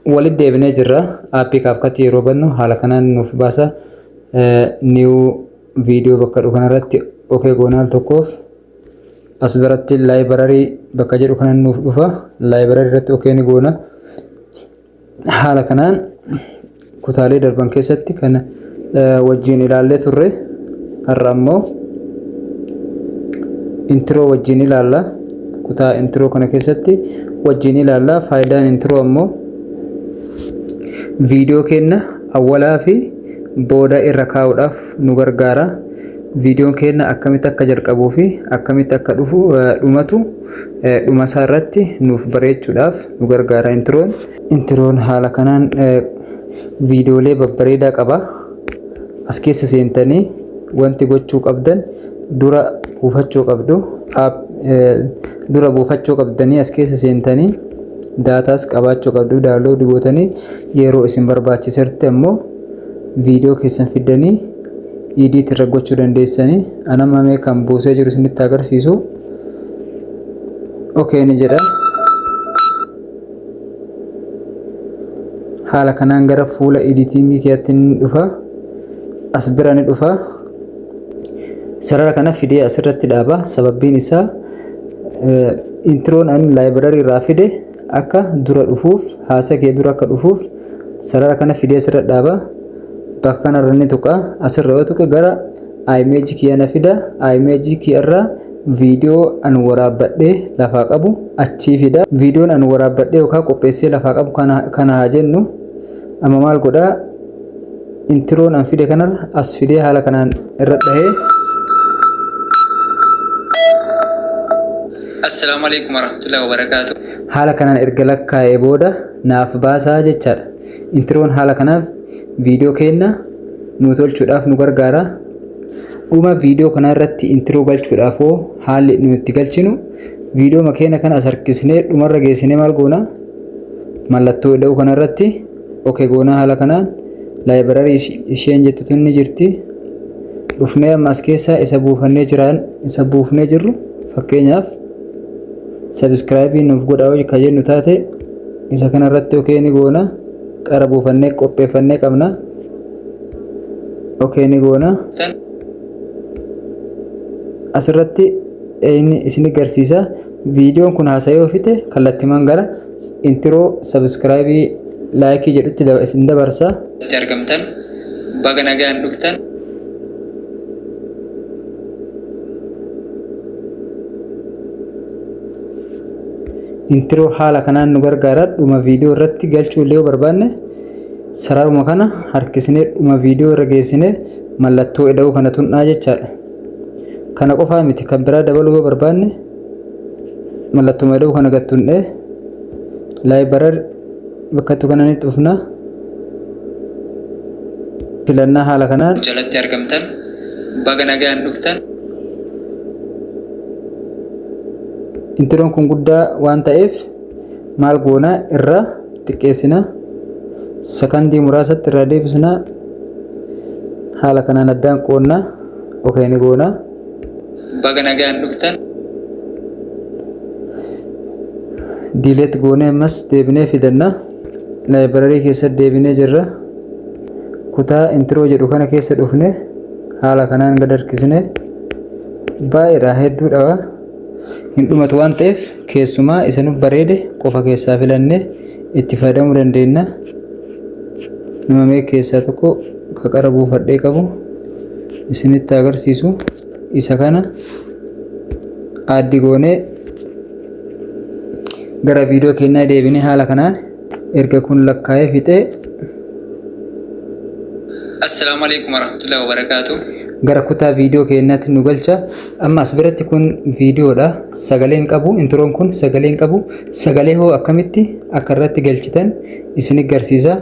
Walitti deebinee jirra. Aappii kaapkatti yeroo bannu haala kanaan nuuf baasa. Niiw viidiyoo bakka jedhu kanarratti ok goona al tokkoof. As biratti laayibararii bakka jedhu kanan nuuf dhufa. Laayibararii irratti ok ni goona. Haala kanaan kutaalee darban keessatti kan wajjiin ilaallee turre har'a ammoo intiroo wajjiin ilaalla kutaa intiroo kana keessatti wajjiin ilaalla faayidaan intiroo ammoo viidiyoo keenna awwalaa fi booda irra kaa'uudhaaf nu gargaara viidiyoon keenna akkamitti akka jalqabuu fi akkamitti akka dhufu dhumatu dhumasaa irratti nuuf bareechuudhaaf nu gargaara intiroon Intiroon haala kanaan viidiyoolee babbareedaa qaba. As keessa seentanii wanti gochuu qabdan dura buufachuu qabdu. Dura buufachuu qabdanii as keessa seentanii daataas qabaachuu qabdu. Daawunlood gootanii yeroo isin barbaachisetti ammoo viidiyoo keessan fiddanii idiit irra gochuu dandeessanii. Ana mamee kan buusee jiru isinitti agarsiisu. Okay ni jedha. haala kanaan gara fuula editing keetti ni dhufa as bira ni dhufa sarara kana fidee asirratti dhaaba sababbiin isaa introon an library irraa fide akka dura dhufuuf haasa kee dura akka dhufuuf sarara kana fidee asirra dhaaba bakka kanarra ni tuqa asirra yoo tuqe gara image kiyya na fida image kiyya irraa Video an waraabbadhe lafaa qabu achii fida. Videon an waraabbadhe yookaa qopheessee lafaa qabu kana kana haa jennu. Amma maal godha intiroon an fide kanarra as fidee haala kanaan irra dhahee Assalaamu alaikum warahmatullahi wabarakaatu. haala kanaan erga lakkaa'ee booda naaf baasaa jechaadha. Intiroon haala kanaaf viidiyoo keenna nu tolchuudhaaf nu gargaara. Dhuma viidiyoo kanaa irratti intiroo galchuudhaaf hoo haalli nu itti galchinu viidiyoo makeena kana as harkisnee dhumarra geessinee maal goona mallattoo ida'uu kana irratti oke goonaa haala kanaan laayibirarii isheen jettutu inni jirti dhufnee amma as keessaa isa buufannee jiraan isa buufnee jirru fakkeenyaaf sabiskiraayibii nuuf godhaa hojii kan jennu taate isa kana irratti okee ni goona qara buufannee qopheeffannee qabna. okay ni goona asirratti inni isin garsiisa viidiyoon kun haasa'ee ofite kallattiman gara intiroo sabiskiraayibii laayikii jedhutti daba- isin dabarsa itti argamtan baga nagaan dhuftan intiroo haala kanaan nu gargaara dhuma viidiyoo irratti galchuu illee yoo barbaanne Sararuma kana harkisnee dhuma viidiyoo irra geessine mallattoo eda'uu kana tunnaa jechaadha. Kana qofaa miti kan biraa dabaluu yoo barbaanne mallattuma eda'uu kana gad tunnee laayibarar bakkattu kana ni dhufna. Filannaa haala kanaan jalatti argamtan baga nagaan dhuftan. Intiroon kun guddaa waan ta'eef maal goona irra xiqqeessina sakandii muraasatti irraa deebisna haala kanaan addaan qoonna okee ni goona baga nagaan dhuftan diileet goonee ammas deebinee fidanna laayibirarii keessatti deebinee jirra kutaa intiroo jedhu kana keessa dhufne haala kanaan gad harkisne baay'eedha hedduudha hin dhumatu waan ta'eef Keessumaa isa nu bareede qofa keessaa filannee itti fayyadamuu dandeenya. Nama mee keessaa tokko qaqara buufadhee qabu isinitti agarsiisu isa kana addi goonee gara viidiyoo keenyaa deebinee haala kanaan erga kun lakkaa'ee fixee Assalaamu alaikum warahmatullahi wabarakaatu. gara kutaa viidiyoo keenyaatti nu galcha. Amma as biratti kun viidiyoodha. Sagalee hin qabu. Intiroon kun sagalee hin qabu. Sagalee hoo akkamitti akka irratti galchitan isin garsiisa.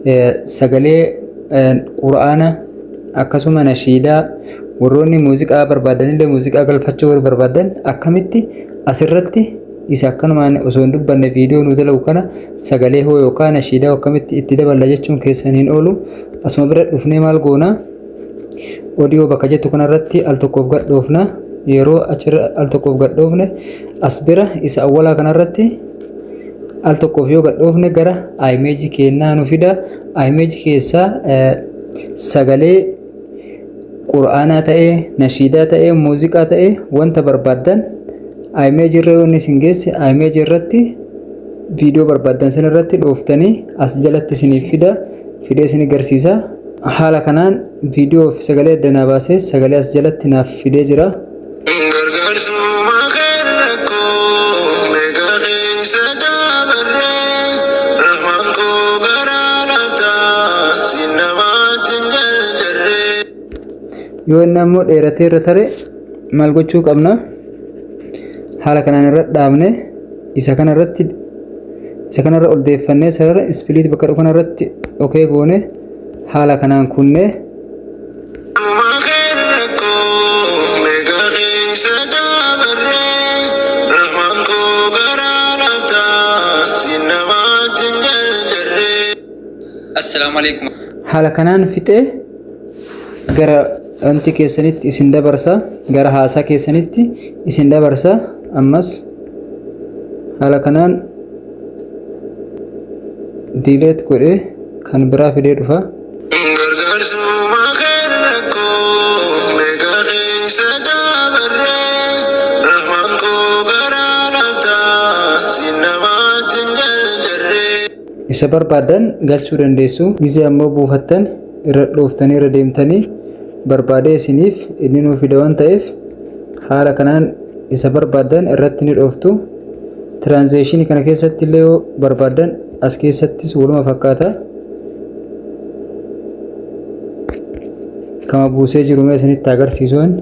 Eh, Sagalee eh, quraana akkasuma nashiidaa warroonni muuziqaa barbaadanillee muuziqaa galfachuu warri barbaadan akkamitti asirratti Isa akkanumaan osoo hin dubbanne viidiyoo nu dalagu kana sagalee hoo yookaan nashiidaa akkamitti itti daballa jechuun keessan hin oolu. Asuma bira dhufnee maal goona? Odiyoo bakka jettu kanarratti al tokkoof gadhoofna. Yeroo achirra al tokkoof gadhoofne as bira isa awwalaa kanarratti al tokkoof yoo gadhoofne gara imeejii keennaa nu fida. Imeejii keessaa sagalee Qur'aanaa ta'ee, nashiidaa ta'ee, muuziqaa ta'ee wanta barbaaddan iMage irra yoo inni isin geesse iMage irratti viidiyoo barbaaddan san irratti dhooftanii as jalatti isiniif fida fidee isin garsiisa. Haala kanaan viidiyoo fi sagalee adda naa baasee sagalee as jalatti naaf fidee jira. Gargaarsuma kee rakkoo meeqa keessa dabarre Rahmaan koo bara laaftaan si namaatti hin jarjarre. yoo inni ammoo dheeratee irra tare maal gochuu qabna haala kanaan irra dhaabne isa kana irratti isa kana irra ol deeffannee sarara ispiliit bakka dhufu kana irratti okee goone haala kanaan kunnee Assalaamu alaikum. Haala kanaan fixee gara wanti keessanitti isin dabarsa gara haasaa keessanitti isin dabarsa ammas haala kanaan diileet godhee kan biraa fidee dhufa. Gargaarsuma keen rakkoo meeqa keessa dabarre Rahmaan koo garaa laafta siin namaatti hin jarjarre. Isa barbaaddan galchuu dandeessu. Gizee ammoo buufattan irra dhooftanii irra deemtanii barbaadee isiniif inni nuu fida waan ta'eef haala kanaan isa barbaaddan irratti ni dhooftu. Tiraanzeeshinii kana keessatti illee yoo barbaaddan As keessattis waluma fakkaata. Kama buusee jiru mee isinitti agarsiisuun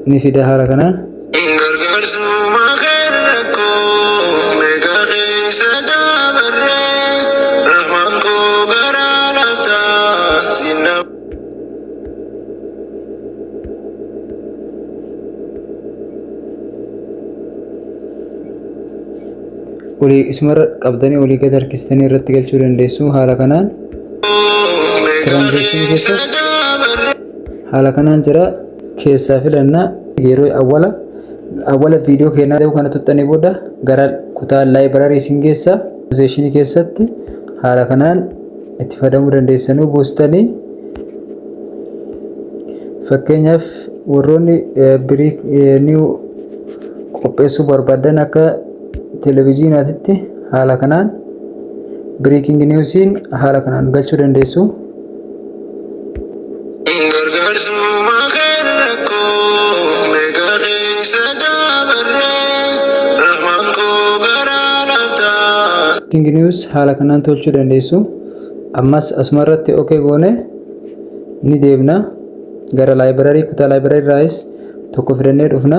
ni fida haala kana. Gargaarsuma kan rakkoo meeqa keessa dabarre rahmaan koo garaa laaftaa sinna. olii isumarra qabdanii olii gad harkistanii irratti galchuu dandeessu haala kanaan tiraanzeekshinii keessa haala kanaan jira keessaa filannaa yeroo awwala awwala viidiyoo keenyaa ta'uu kana tuttanii booda gara kutaa laayibrarii isin geessa tiraanzeekshinii keessatti haala kanaan itti fayyadamuu dandeessanuu buustanii fakkeenyaaf warroonni biriik niiw qopheessuu barbaadan akka televiziyonaatitti haala kanaan biriikingi niiwsiin haala kanaan galchuu dandeessu. Gargaarsuma keen rakkoo meeqa keessa dabarre rahmaan koo garaa laaftaa. King News haala kanaan tolchuu dandeessu. Ammas asuma irratti OK goone ni deebna. Gara library kutaa library irraayis tokko fidannee dhufna.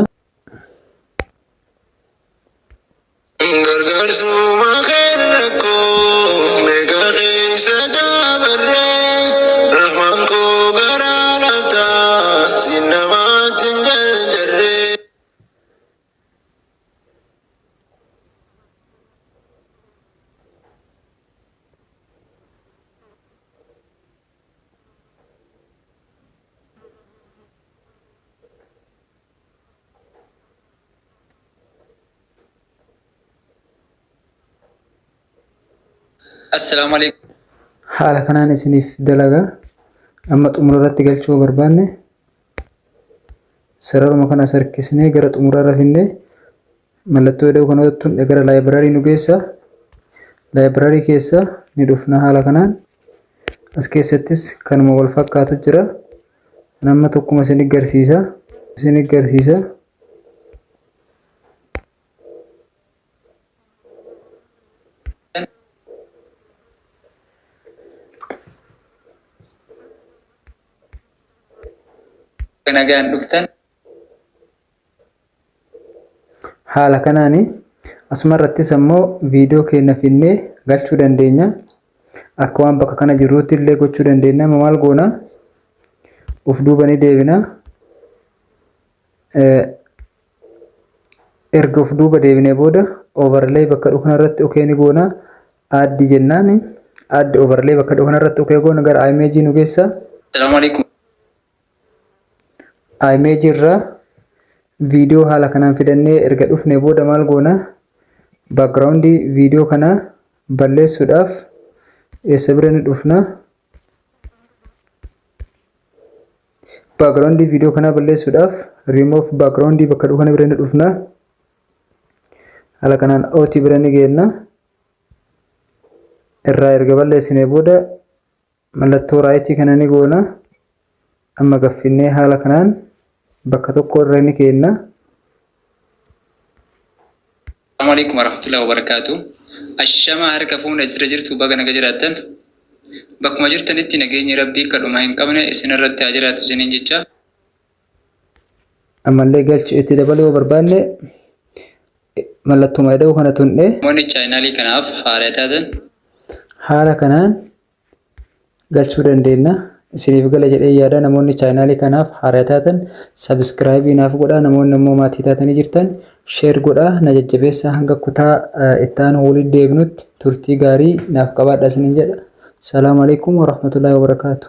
Gargaarsuma kee rakkoo meeqa keessa dabarre Rahmaan koo garaa laafta si namaatti hin jarjarre. Assalaamu alaikum. Haala kanaan isiniif dalagaa amma xumura irratti galchuu barbaanne sararuma kana sarkisnee gara xumuraa irra finnee Mallattoo ida'uu kana irratti hundee gara library nu geessa. Library keessa ni dhufna haala kanaan. As keessattis kanuma wal fakkaatu jira. Kan amma tokkuma isin garsiisa. Isin garsiisa. Nagaan dhuftan. Haala kanaani asuma irrattis ammoo viidiyoo keenya finnee galchuu dandeenya. Akka waan bakka kana jirruutti illee gochuu dandeenya. Amma maal goona? Of duuba ni deebina. Erga of duuba deebinee booda overlay bakka dhukna irratti okee ni goona. Add jennaan add overlay bakka dhukna irratti okee goona gara image nu geessa. Assalamu alaikum. image irra video haala kanaan fidannee erga dhufne booda maal goona background video kana balleessuudhaaf eessa bira ni dhufna background video kana balleessuudhaaf remove background bakka dhufu kana bira ni dhufna haala kanaan ot bira ni geenna irraa erga balleessine booda Mallattoo raayitii kana ni goona. Amma gaffinnee haala kanaan bakka tokko irra ni keenna. Assalamu alaikum warahmatullahi wabarakatuh. Ashama harka fuune jira jirtu baga naga jiraattan. Bakkuma jirtanitti nageenyi Rabbii akka dhuma hin qabne isinirratti haa jiraatu isiniin jecha. Ammallee galchi itti dabaluu yoo barbaanne mallattuma ida'uu kana tunnee Namoonni chaayinaalii kanaaf haaraa taatan haala kanaan galchuu dandeenya. Isiniif gala jedhee yaada namoonni chaayinaalii kanaaf haaraa taatan sabiskiraayibii naaf godhaa namoonni immoo maatii taatanii jirtan sheer godhaa na jajjabeessa hanga kutaa itti aanu waliin deebinutti turtii gaarii naaf qabaadha isiniin jedha. Salaamu alaikum warahmatullahi wabarakatuh.